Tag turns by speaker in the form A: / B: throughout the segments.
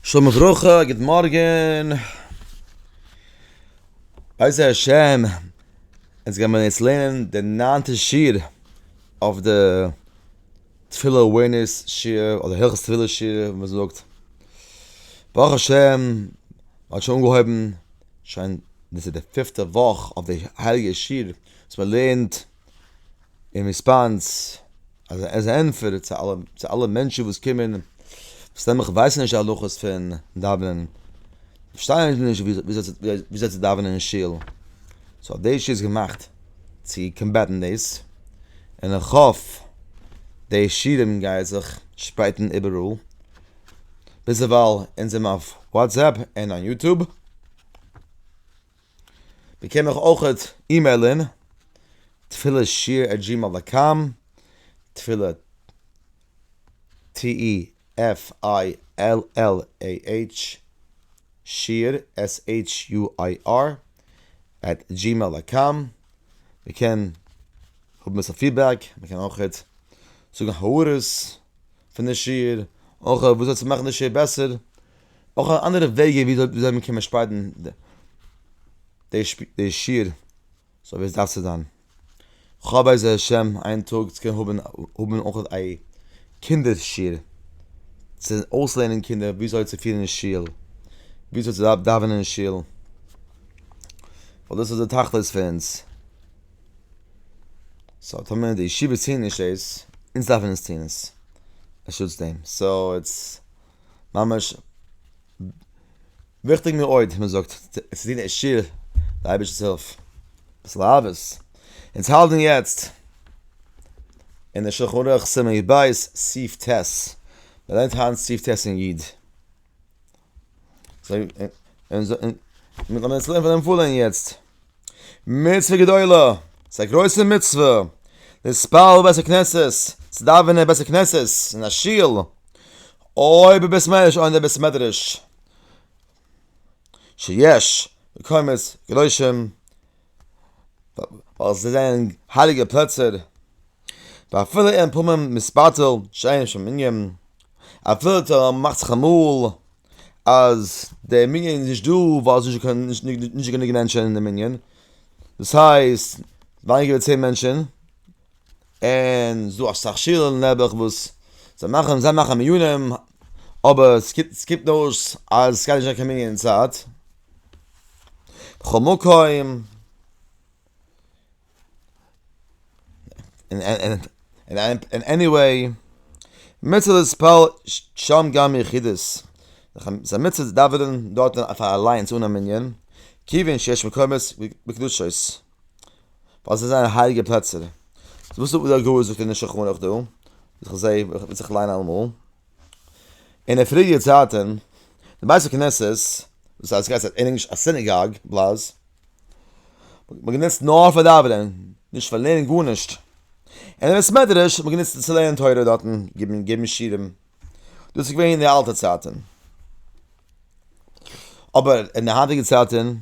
A: שלום וברכה, גוט מארגען. בעזר השם אונז גיימער יעצט לערנען די ניינטע שיעור אויף די תפילה אווערנעס שיעור אדער הלכות תפילה שיעור ווי מען זאגט. ברוך השם מען האט שוין אנגעהויבן שוין דאס איז די פיפטע וואך אויף די הייליגע שיעור וואס מען לערנט אין ריספאנס אז עז א ענטפער צו אלע צו אלע מענטשן וואס קומען וואס נעבעך ווייסן נישט די הלכות פון דאווענען פארשטייען נישט וויאזוי צו דאווענען אין שול סאו האט דעיס שיעור געמאכט צו קאמבעטן דעיס און איך האף די שיעורים גייען זיך שפרייטן איבעראל ביזדערווייל אונז זעמער אויף וואטסעפפ און און יוטוב. מען קען מיך אויך אימעילען, תפילה שיר עט דזשימעיל דאט קאם, תפילה TEFILLAH שיר SHUIR עט דזשימעיל דאט קאם, מען קען האבן אביסל פידבעק, מען קען אויך זאגן הערות פון די שיר, אויך וואס אזוי צו מאכן די שיר בעסער. אויך אנדערע וועגען וויאזוי מען קען שפיידן די שיעור סאו ווי עס דארף צו זיין. כ'האף בעזר השם איין טאג צו קענען האבן האבן אויך א קינדער שיעור צו אויסלערנען קינדער וויאזוי צו פירן אין שול, וויאזוי צו דאווענען אין שול, ווייל דאס איז די תכלית פון אונז. סאו טאמער די ישיבות טוען נישט דאס, אונז דארפן אונז טון עס, בשעת דעם. סאו איטס. ממש וויכטיג מאוד מען זאגט צו טון עשיר די אייבערשטענס הילף, אביסל אהבות, אונז האלטן יעצט אין די שלחן ערוך סימן יב סעיף ט', מען לערנט היינט סעיף ט' אין י', און און און לאמיר עס לערנען פון דעם פולען יעצט. מצוה גדולה, ס'איז א גרויסע מצוה, להתפלל בבית הכנסת, צו דאווענען אין בית הכנסת, אין א שול, אויב אין בית מדרש אויב אין די בית מדרש, שיש מקומות קדושים, ווייל זיי זענען הייליגע פלעצער, ואפילו אין פורים מספטל שאין שם מנין, אפילו טאמער מ'מאכט זיך אמאל אז דער מנין איז נישט דא ווייל ס'איז נישט גענוג מענטשן אין די מנין, דאס הייסט ווייניגער ווי צען מענטשן, און ס'איז דא אסאך שולן נעבעך וואס זיי מאכן זיי מאכן מנינים, אבער ס'קומט אויס אז ס'גייט נישט זיין קיין מנין אין צייט, בכל מקום. און און עניוועי, מצוה להתפלל שם גם יחידות, ס'איז א מצוה צו דאווענען דארט פאר אליינס אן א מנין, כיוון שיש מקומות בקדושות, ווייל זיי זענען הייליגע פלעצער. וואס זאגט דער גאון זאגט אין שולחן ערוך דא, וואס איך זעה וואס איך ליין אלעמאל. אין די פריערדיגע צייטען די בית הכנסת וואס הייסט גייט אין ענגליש א סינעגאג בלאז האט מען גענוצט נאר פאר דאווענען נישט פאר לערנען גארנישט אין די בית מדרש האט מען גענוצט צו לערנען תורה דארטען גיבן גיבן שיעורים דאס איז געווען אין די אלטע צייטען אבער אין די היינטיגע צייטען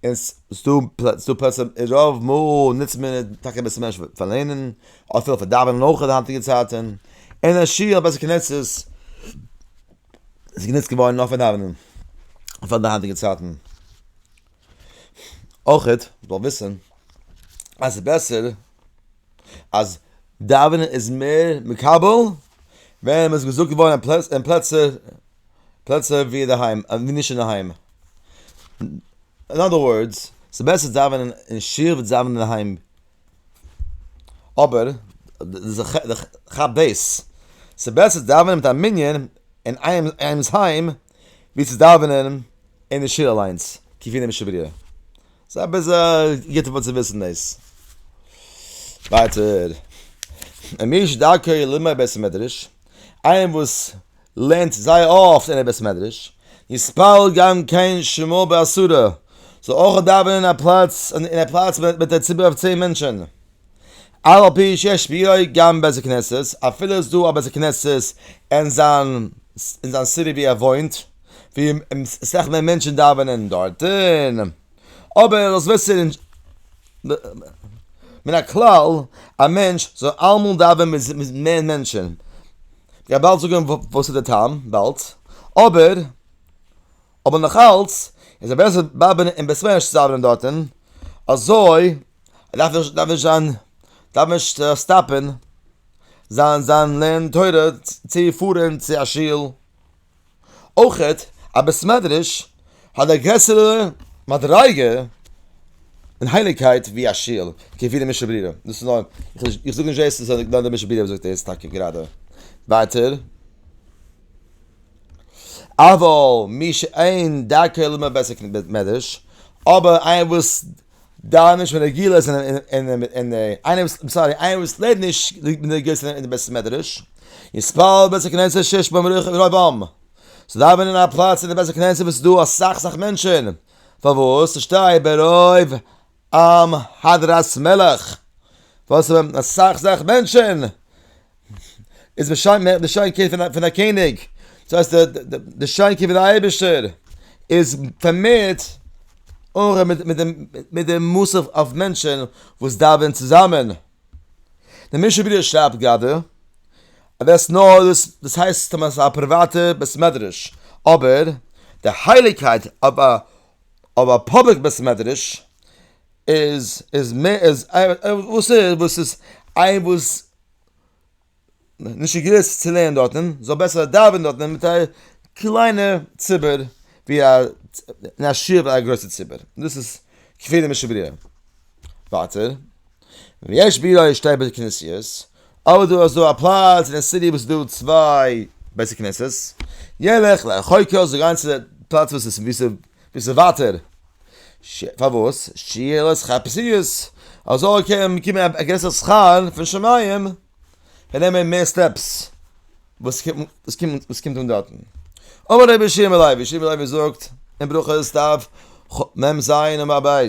A: און ס'דא ס'דא פלעצער רוב מאל נוצט מען עס טאקע אביסל מער פאר לערנען, אפילו פאר דאווענען אויך אין די היינטיגע צייטען, אין א שול ביי זיך קען עס עס איז גענוצט געווארן נאר פאר דאווענען פאר די היינטיגע צייטען, אויך מען זאל וויסען אז ס'איז בעסער אז דאווענען איז מער מקבל ווען מען איז געזאגט געווארן אין פלעצער פלעצער ווי אינדערהיים ווי נישט אינדערהיים. אין אנדער ווארדס, ס'איז בעסער צו דאווענען אין שול ווי צו דאווענען אינדערהיים. אבער כאפ דאס, ס'איז בעסער צו דאווענען מיט א מנין אין איינעמ'ס היים ווי צו דאווענען אין די שול אליינס, כפי נמשל בריאה. ס'איז א ביסל גוט צו וויסן דאס. ווייטער, איינער וואס לערנט זייער אפט אין א בית מדרש, יתפלל גם כן שמו בעשרה, זאל אויך דאווענען אין א פלאץ אין א פלאץ מיט א ציבור אויף צען מענטשען, אף על פי שיש ביהא גם בית הכנסת, אפילו איז דא א בית הכנסת אין זיין אין זיין סיטי ווי ער וואוינט, ווי סאך מער מענטשען דאווענען דארטען. אבער דאס וועט זיך נישט מן הכלל א מענטש זאל אלעמאל דאווען מיט מער מענטשען, כ'גיי באלד זאגען וואס איז די טעם, באלד, אבער אבער נאך אלץ איז עס בעסער דאווענען אין בית מדרש צו דאווענען דארטען, אזוי דארף נישט דארף נישט זיין דארף נישט סטאפען זיין זיין לערנען תורה צו פארען צו א שול. אויך האט א בית מדרש האט א גרעסערע מדריגה און הייליגקייט ווי א שול, כפי דעם משל ברירה, דאס איז נאר, איך זאג נישט דאס, נאר דער משל ברירה זאגט דאס טאקע גראדע. ווייטער, אבל מי שאין דרכו ללמוד בבית המדרש, אבער איינער וואס דאן נישט פון רגילות און און איינער וואס סארי איינער וואס לערנט נישט רגילות אין די בית המדרש יתפלל בבית הכנסת שיש בו רוב עם זאל דאווענען אין א פלאץ אין די בית הכנסת וואס איז דא אסאך סאך מענטשען פארוואס ס'שטייט ברוב עם הדרת מלך וואס אסאך סאך מענטשען איז די שיין מער די שיין קעי פון פון א קעניג דאס הייסט די די שיין קעי פון די אייבישטער איז פארמערט אור מיט מיט דעם מיט דעם מוסף אויף מענטשען וואס דאווען צוזאמען דער משנה ברורה שרייבט גראדע אז דאס נאר דאס דאס הייסט אז מען האט א פריוואטע בית מדרש אבער די הייליגקייט אויף א אויף א פובליק בית מדרש איז איז מער איז וואס איז וואס איז איין וואס נישט געגליסט צו לערנען דארטן, זאל בעסער דאווענען דארטן מיט א קליינע ציבור ווי א אין א שול ווי א גרויסע ציבור, דאס איז כפירה משבריו. ווייטער, ויש ביראה שתי בתי כנסיות, אבער דא איז דא א פלאץ אין די סיטי וואס איז דא צוויי בתי כנסת, ילך לרחוקה זאל גיין צו די פלאץ וואס איז ווי ס'איז ביסט ווייטער ש ס פארוואס ש ס חפציות אזוי קען מען באקומען א גרעסערע שכר פון שמים פאר נעמען מער סטעפס וואס קומט וואס קומט אן דארטן אמר רבי שמעון לייב רבי שמעון לייב זאגט אין ברכות דף מ ז עמוד ב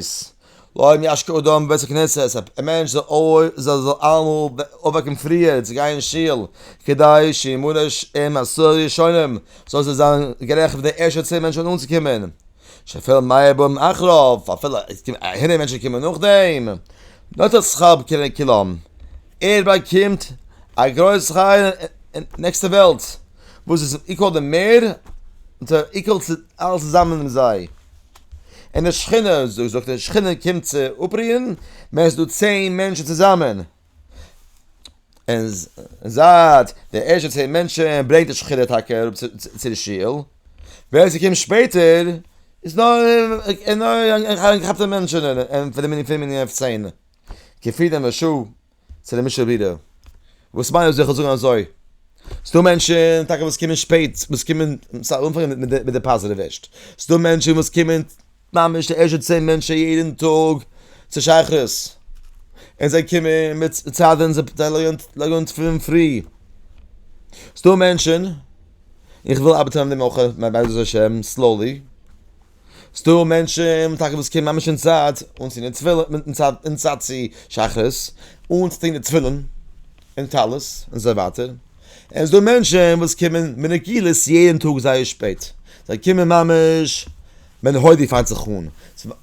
A: לא אם ישקה אדם בבית הכנסת, א מענטש זאל אלעמאל אויפוועקן פריער צו גיין אין שול, כדי שימנע עם עשרה ראשונים, זאל עס זיין גערעכט פאר די ערשטע צען מענטשן אנצוקומען, שאפילו מאה באים אחריו, אפילו הונדערט מענטשן קומען נאכדעם, נוטל שכר בקרב כולם, ער באקומט א גרויס שכר אין נעקסטע וועלט, וואס איז איקוואל די מער, איקוואל אלעס צוזאמען מיט זיי. אין די שכינה זאגט די שכינה קומט צו אפריען מען איז דא צען מענטשן צוזאמען אין זייט די ערשטע צען מענטשן ברענגט די שכינה טאקע אראפ צו די שול ווער עס קומט שפעטער איז נאר כאפט די מענטשן אין פון די מנין פון די מנין אויף צען כפי דעם רשו צו דעם משל ווידער, וואס מיינט דאס איך זאל זאגן אזוי? ס'דא מענטשן טאקע וואס קומען שפעט, וואס קומען, סא אנפאנגען מיט די מיט די פאזיטיוו ערשט, ס'דא מענטשן וואס קומען ממש די ערשטע צען מענטשן יעדן טאג צו שייכות, און זיי קומען מיט צייטען זיי פארטיילען ליגענט פון פרי, ס'דא מענטשן, איך וויל ארבעטען אן דעם אויך בעזהשי ת סלאולי. ס'דא מענטשן טאקע וואס קומען ממש אין צייט אנצוהן די תפילין, אין צייט צו שחרית, אנצוטוהן די תפילין און טלית און אזוי ווייטער, און ס'דא מענטשן וואס קומען מנגילות יעדן טאג זייער שפעט, זיי קומען ממש ווען הוידי פאנגט זיך אן,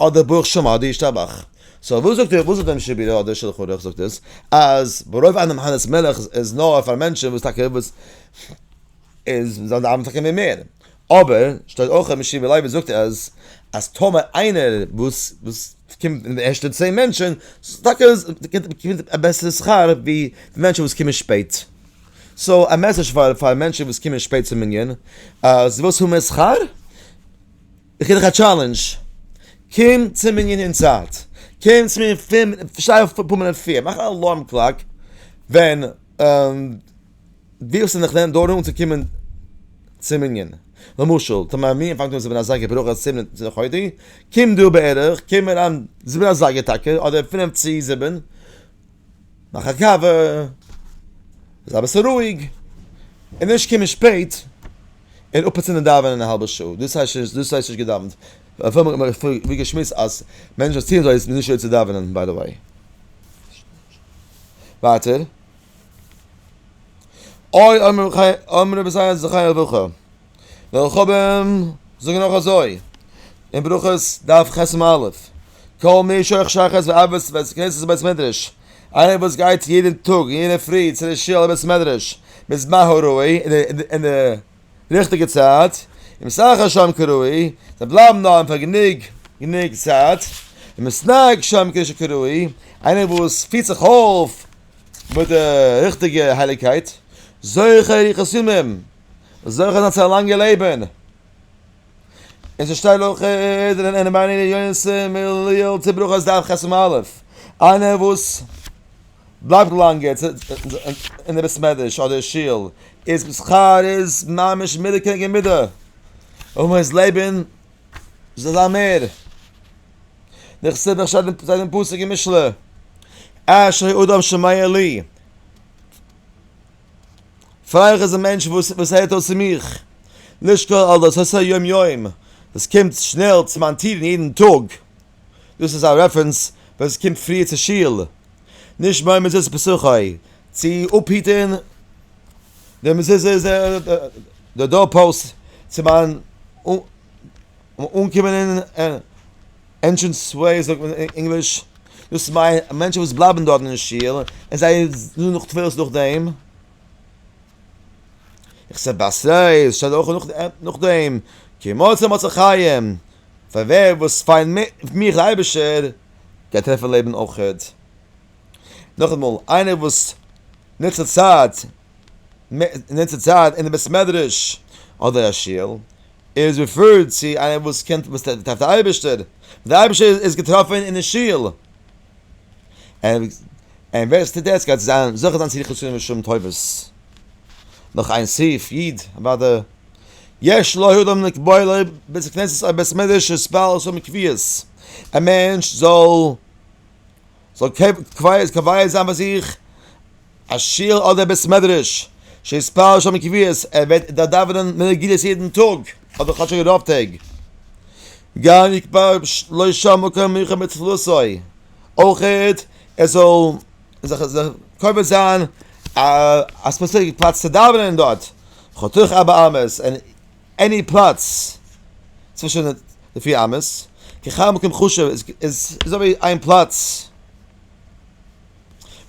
A: אדער ברוך שם אדער ישתבח, סאו וואס זאגט וואס זאגט דעם שבי ר אדער שלחן ערוך זאגט עס אז ברוב עם נאמנות מלך איז נאר פאר מענטשן וואס טאקע וואס איז זיי דאווענען טאקע מער, אבער שטייט אויך אז משיב ווי לייבוש זאגט אז אז טאמער איינער וואס וואס קומט אין די ערשטע צען מענטשען זאל טאקע באקומען א בעסערע שכר ווי די מענטשען וואס קומען שפעט. סאו א מעסעדזש פאר פאר מענטשען וואס קומען שפעט צום מנין אז די ווילסט האבן מער שכר? איך גיב דיך א טשאלענדזש קום צום מנין אין צייט קום צו מיר פֿינף שטיי אויף פֿינף מינוט פריער מאך א אלארם קלאק ווען די וואס זענען נכנעים דארט אן צו קומען צום מנין, למשל טאמער א מנין פאנגט אן זיבן אזייגער ברוך ה' זיבן און צוואנציג לחודש, קום דו בערך קום אריין זיבן אזייגער טאקע אדער פינף צו זיבן, מאך א קאווע, זיי אביסל רואיג, און נישט קומען שפעט און אפצינדען דאווענען א האלבע שעה, דאס הייסט נישט דאס הייסט נישט געדאווענט, ווי געשמועסט אז מענטשן וואס ציען אזוי איז נישט ראוי צו דאווענען ביי די וועי. ווייטער. אוי אמער רבי חיים אמער רבי זיי זיך חיי אויף אויך דער חבם זאגן נאך אזוי אין ברכות דף חסם א' קאל מי שייך שחס ואבס ווען ס'קענסט עס בית מדרש איינער וואס גייט יעדן טאג אין יענע פרי צו די שיל בית מדרש בזמן הראוי אין די ריכטיגע צייט און משחק שם כראוי זיי בלייבן דאן פאר גענוג גענוג צייט און משחק שם כראוי איינער וואס פירט זיך אויף מיט די ריכטיגע הייליגקייט, זוכה אריכות ימים, זוכה זיין צו א לאנגע לעבן, און ס'שטייט לכה פ אין מעיין העיונות מליל צו ברכות דף ח עמ' א', איינער וואס בלייבט לאנג אין די בית מדרש אדער שול איז זיין שכר איז ממש מידה כנגד מידה, און מען איז לעבן זאל זיין מער. נכסי דרשת דעם זיין דעם פסוק אין משלי אשרי אדם שומע לי פרייליך איז א מענטש וואס וואס הערט אויס צו מיך לשקול על דעת ה' יום יום דאס קומט שנעל צו מיין טיר יעדן טאג דאס איז א רעפרענס ווען עס קומט פריער צו שול נישט ביי מזוזה פסחי צו אפהיטן די מזוזה די דאר פאוסט צו מיין און אנקומען אין ענטשענס סקווער זאגט מען אין ענגליש, דאס מיינט מענטשן וואס בלייבן דארטן אין שול און זיי זאגן נאך תפלות נאכדעם, איך זע ביי סיי שטייט אויך נאכדעם כי מצא מצא חיים, פאר ווער וואס פיינט מיך דער אייבערשטער גייט טרעפן לעבן אויך. נאכאמאל, איינער וואס נוצט די צייט. אין אונזער צייט אין די בית מדרש אדער א שול איז רעפירט צו איינער וואס קען וואס דארף די אייבערשטער, די אייבערשטער איז געטראפען אין די שול, און און ווער עס טוט דאס גייט זיין זוכה זיין צו די חסדים ושלום טובות, נאך איין סעיף איד אוואדע יש לו אדם לקבוע לו בית הכנסת אדער בית מדרש וואס בעל האט שוין קביעות א מענטש זאל. זאל קובע זיין ביי זיך א שול אדער בית מדרש שיתפלל שם קביעות, ער וועט דארט דאווענען מנין רגילות יעדן טאג אדער כאטשיג רוב טעג, גם יתפלל לא שם מקום מיוחד בתפלתו, אויך ער זאל זיך קובע זיין א ספעציפיק פלאץ צו דאווענען דארט, חתוך ארבע אמות, און עני פלאץ צווישן די פיר אמות, ככר מקום חשוב איז איז אזויווי איין פלאץ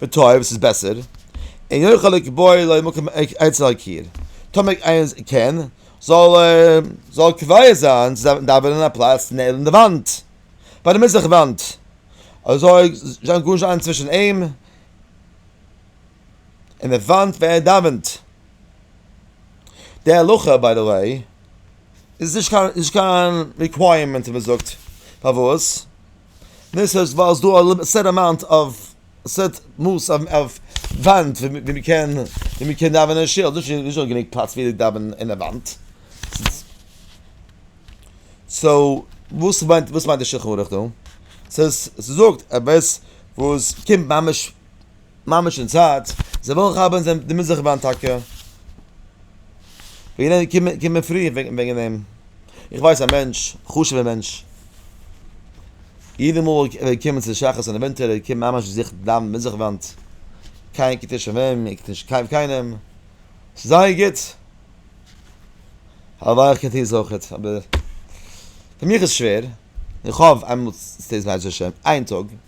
A: וטוב וואס איז בעסער, אין יוכל לקבוע לו מקום אצל הקיר, טאמער איינער קען זאל ער זאל קובע זיין צו דארפן דאווענען אין א פלאץ נעבן די וואנט, ביי די מזרח וואנט, אזוי זאל גארנישט זיין צווישן אים. אין די וואנט ווען ער דאווענט, די הלכה ביי די וועי איז נישט קיין נישט קיין ריקווייערמענט ווי מען זאגט, פארוואס? דאס איז ווייל ס'איז דא א סעט אמאונט אוו סעט מאס אוו וואנט ווי מען קען ווי מען קען דאווענען אין שול, נישט נישט דא גענוג פלאץ ווי דאווענען אין די וואנט, סאו וואס מיינט וואס מיינט די שולחן ערוך דא? ס'איז ס'זאגט עפעס וואס קומט ממש ממש אין צייט, זיי ברוך האבען זיי די מזרח באן טאקע וועגען דעם קומען קומען פרי וועגען דעם, איך ווייס א מענטש חשובע מענטש יעדע מאל ער וועט קומען צו שחרית און עווענטועל ער קומט ממש זיך דאווענען מזרח וואנט, קיינער קוקט נישט אויף אים ער קוקט נישט קיין קיינעם, ס'איז זייער גוט, הלוואי איך קען טוהן עס אויכעט אבער פאר מיך איז שווער, איך האף איינמאל בעזהשי ת איין טאג.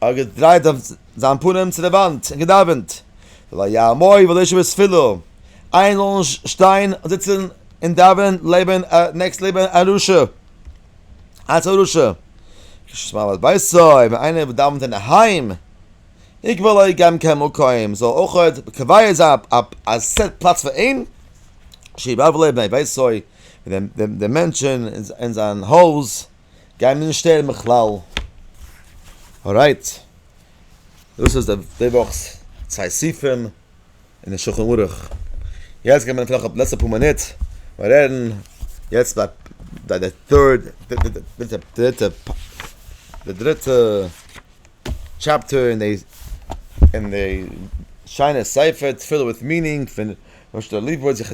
A: ער האט געדרייט זיין פנים צו די וואנט און געדאווענט, ולא יעמוד ולא ישב בתפילה, איינער זאל נישט שטיין און זיצן און דאווענען לעבן נעקסט לעבן א רשע, אלץ א רשע, כשישמע מעמד ביתו, ווען איינער דאווענט אינדערהיים, יקבע לו גם כן מקום, זאל ער אויך קובע זיין א סעט פלאץ פאר אים, שיבער לו בני ביתו, די מענטשן אין זיין הויז. גייען מיר נישט שטערן בכלל. ארייט. דאס איז די וואך'ס צוויי סעיפים אין די שולחן ערוך. יעצט גיימיר נאטורליך אויף די לעצטע פאר מינוט בארעדן יעצט ביי די טוירט דריטע די דריטע טשעפטער אין די אין די שיינע ספר תפילה וויט מינינג פון משה ליפוביץ איך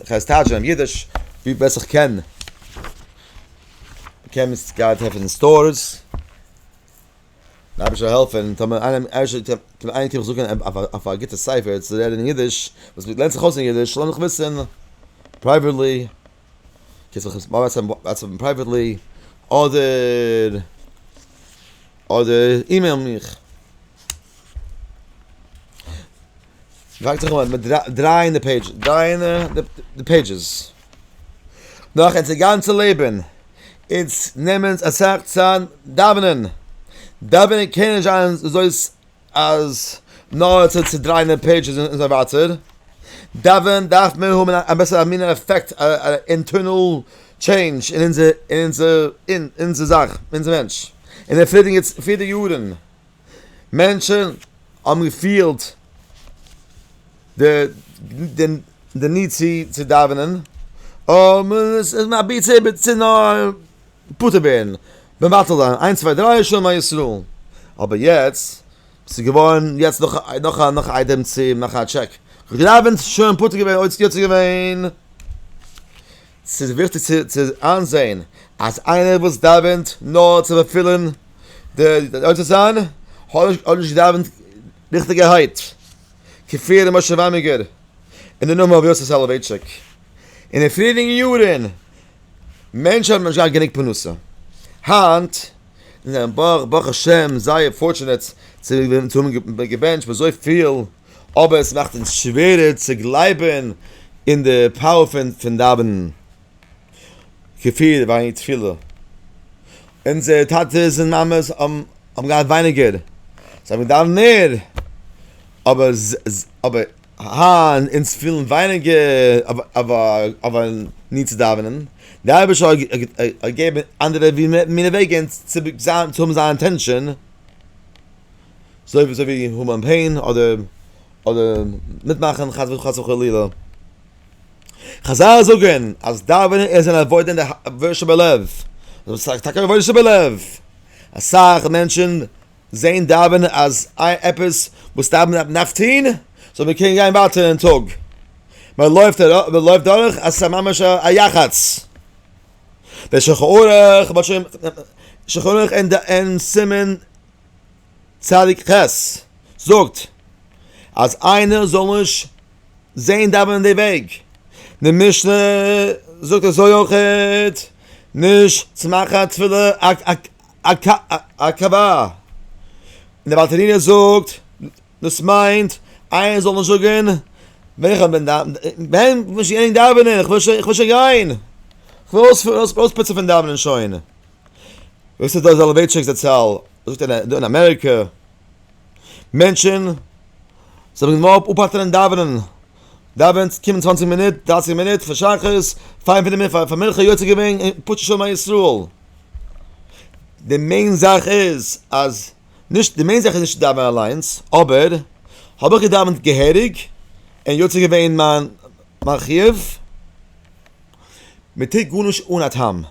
A: הייס טייטשן אים אידיש ווי בעסט איך קען. מ'קען מיט סטאקארט עפענען סטארס, אייבערשטער זאל העלפען, טאמער איינעם איינער קען מיך זאגען אויף א גוטע ספר צו לערנען אידיש, וואס לערנט זיך אויס אין אידיש, זאל ער מיך וויסען פרייוועטלי, קענסט מיך וואטסעפען פרייוועטלי, אדער אדער אימעיל מיך. דרייט זיך אום, מיר דרייען די פעידזש, דרייען די פעידזשעס. נאך אונזער גאנצע לעבן, אונז נעמען אונז אסאך צייט דאווענען. דאווענען קען נישט זיין אזוי אז נאר צו צעדרייען די פעידזשעס און אזוי ווייטער. דאווענען דארף מען האבן א בעסערע א מינע עפעקט, א אינטערנעל טשעינדזש אין אונזער, אין אונזער, אין אונזער זאך, אין אונזער מענטש. אין די פריערדיגע יארן. מענטשן האבן געפילט די ניד צו דאווענען, פטור ווערן, מבטל זיין, איינס צוויי דריי שמע ישראל, אבער יעצט ס'איז געווארן יעצט נאך א נאך א איידעם צו מאכן א טשעק, כ'האב געדאווענט שוין פטור געווען, יעצט איז געווען. ס'איז וויכטיג צו איינזען אז איינער וואס דאווענט נאר צו ערפילן די יוצא ציין האט נישט געדאווענט ריכטיגערהייט, כפי ר' משה וויינבערגער און די נאמען ר' יוסף סאלאווייטשיק אין די פריערדיגע יארן. מענטשן האבן נישט געהאט גענוג פרנסה, היינט איז מען ברוך השם זייער פארטשענעט צו האבן געבענטשט אזויפיל. אבער עס מאכט אונז שווערער צו גלייבען אין די פאוער פון דאווענען כפי ווייניג תפילה אונזערע טאטעס און מאמעס האבן געהאט ווייניגער זיי האבן געדאווענט מער אבער היינט אונז פילן ווייניגער נענט צו דאווענען די אייבערשטער האט געגעבען אנדערע ווי מיר וועגען צו האבן זיין אטענשאן. זוי ווי אזוי ווי האבן פעין אדער אדער מיטמאכן חס וחלילה. חזל זאגן אז דאווענען איז אן עבודה אין די עבודה שבלב, דאס איז טאקע עבודה שבלב, אסאך מענטשן זעהן דאווענען אז עפעס וואס דאווענען דארף טוהן זאל מען קענען גיין ווייטער אין טאג, מען לויפט מען לויפט דורך אז ס'איז ממש א יחץ, דער שולחן ערוך, שולחן ערוך אין סימן צדיק ח זאגט אז איינער זאל נישט זעהן דאווענען די וועג, די משנה זאגט אזוי אויכעט נישט צו מאכן א תפילה א קאווע, און דער בעל תניא זאגט דאס מיינט איינער זאל נישט זאגן ווען איך בין דאווענען, איך וויל שוין גיין, איך וויל אויספוצן פון דאווענען שוין. וואס איז דאס זאלאווייטשיק זצל זאגט דא אין אמעריקע מענטשען זאל מען מויל אפהאטענען דאווענען דאווענט קומען צוואַנציק מינוט דרײַסיק מינוט פאר שחרית פאר מנחה יוצא געווען און פשוט שלום ישראל די מעין זאך איז אז נישט די מעין זאך איז נישט דאווענען אליינס אבער האב איך געדאווענט געהעריג און יוצא געווען מיין חיוב מען טוט גארנישט אן א טעם.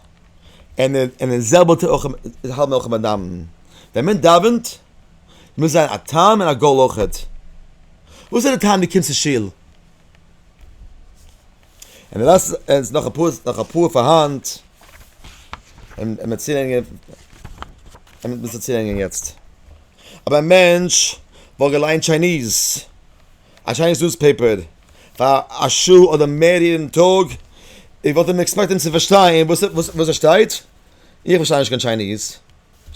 A: און און די זעלבע טוט אויך די האלבע מלחמה דאווענען. ווען מען דאווענט מוז זיין א טעם און א גאול אויכעט. וואס איז די טעם דו קומסט צו שול? און די ווייסט און ס'איז נאך אפאר נאך אפאר פארהאן און און און צולענגען יעצט. אבער א מענטש וואלט געליינט טשייניז. א שיינע ניוזפעיפער פאר א שעה אדער מער יעדן טאג, איך וואלט אים עקספעקטען צו פארשטיין וואס וואס עס שטייט, איך פארשטיי נישט קיין טשייניז,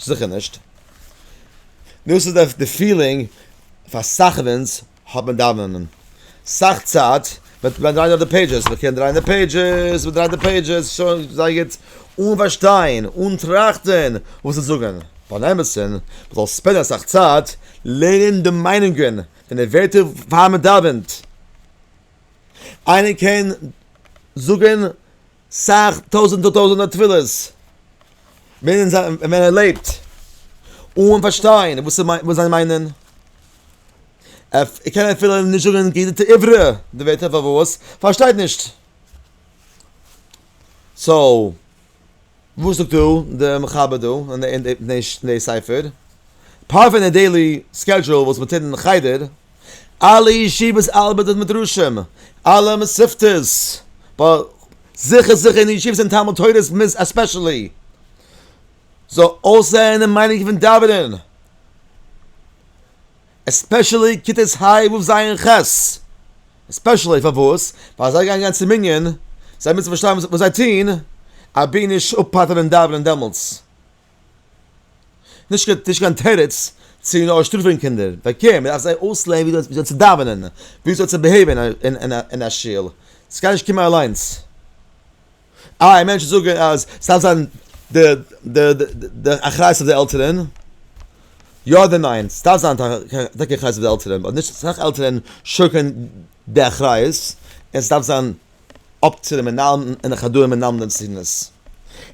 A: זיכער נישט, דאס איז די פילינג פאר סאך פון אונז האט מיט דאווענען, סאך צייט וועט מען דרייען נאר די פעידזשעס, מען קען דרייען די פעידזשעס, מען דרייט די פעידזשעס, שוין זייער גוט, אן פארשטיין, אן טראכטען וואס זיי זאגען, פארן אמת'ן, מען זאל ספענדען אסאך צייט לערנען די מיינונגען אין די ווערטער פאר מען דאווענט, איינער קען זאגען סאך טויזענטער טויזענטער תפילות ווען ער לעבט, אן פארשטיין וואס זיי מיינען, ער קען אפילו נישט זאגען געהעריג די עברה, די ווערטער פארוואס? פארשטייט נישט. סאו. וואס זאגט דא די מחבר דא אין די ספר? אפאר פון די דעילי סקעדזשועל וואס מען טוט אין חדר, אלע ישיבות ארבעט מיט מדרשים, אלע מסכתות, זיכער זיכער אין די ישיבות אין תלמוד תורה'ס עספעשעלי, זאל אויסזען די מיינונג פון דאווענען. עספעשעלי כיתות ה' ו' ז' און ח', עספעשעלי פארוואס? ווייל זיי גייען גיין צום מנין, זיי מוזן פארשטיין וואס זיי טוהן, אבי נישט אפהאלטען און דאווענען דעמאלטס. נישט קיין תירוץ צו נאר שטראפען קינדער, וועקום, מ'דארף זיי אויסלערנען ווי אזוי צו דאווענען, ווי אזוי צו ביהעיווען אין א שול, ס'גייט נישט קומען אליינס. איי מענטשן זאגן אז ס'דארף זיין די די די אחריות אויף די עלטערן, יא אדער ניין? ס'דארף זיין טאקע אחריות אויף די עלטערן, באט נישט סאך עלטערן שולקען די אחריות, און ס'דארף זיין אפ צו די מנהלים און די חדרים מלמדים צו טון עס.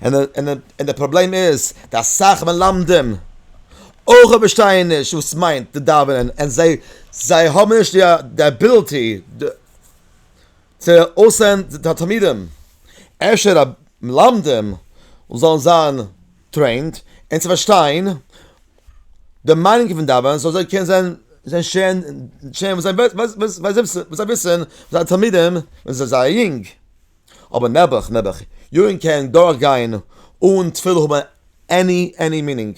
A: און און און די פראבלעם איז די אסאך מלמדים אויך פארשטייען נישט וואס מיינט די דאווענען און זיי זיי האבן נישט די אביליטי די צו אויסען די תלמידים אפשר א מלמדים זאלן זיין טרעינד און צו פארשטיין די מיינונג פון דאווענען זאל זיי קענען זיין זיין שעה'ן שעה'ן וואס זיי וויסען זיינע תלמידים ווען זיי זייער יונג אבער נעבעך נעבעך יארן קען דורך גיין אן תפילה האבען עני עני מינינג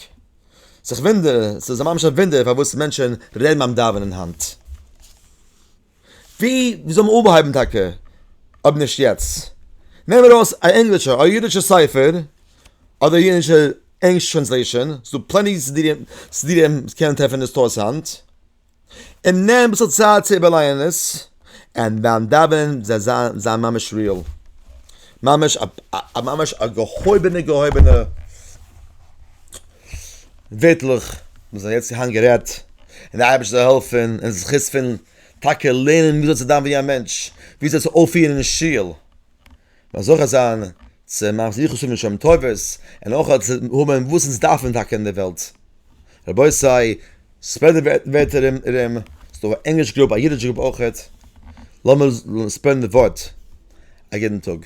A: ס'איז ווינדער ס'איז ממש א ווינדער פארוואס מענטשען רעדן ביים דאווענען היינט. ווי זאל מען אנהייבן טאקע אויב נישט יעצט? נעם ארויס א ענגלישע א אידישע ספר אדער א אידישע ענגלישע טרענסלעישאן ס'איז דא פלעני סידירים סידירים וואס מען קען טרעפן אין סטארס היינט און נעם אביסל צייט צו איבערלייענען עס און ביים דאווענען זיי זיין זיין ממש ריעל ממש א ממש א געהויבענע געהויבענע ווערטלעך וואס זענען יעצט היינט גערעדט, און די אייבערשטער זאל העלפן און זכות פון טאקע לערנען ווי אזוי צו זיין ווי א מענטש, ווי אזוי צו אויפפירן אין שול, און זוכה זיין צו מעשי יחוס האבן שמים טובות, און אויך צו האבן וואס אונז דארפן טאקע אין די וועלט. רבותי, ספרעד די ווערט ארום, ס'דא א ענגליש גרופ א אידיש גרופ אויכעט, לאמיר ספרעדן די ווארט, א גוטן טאג.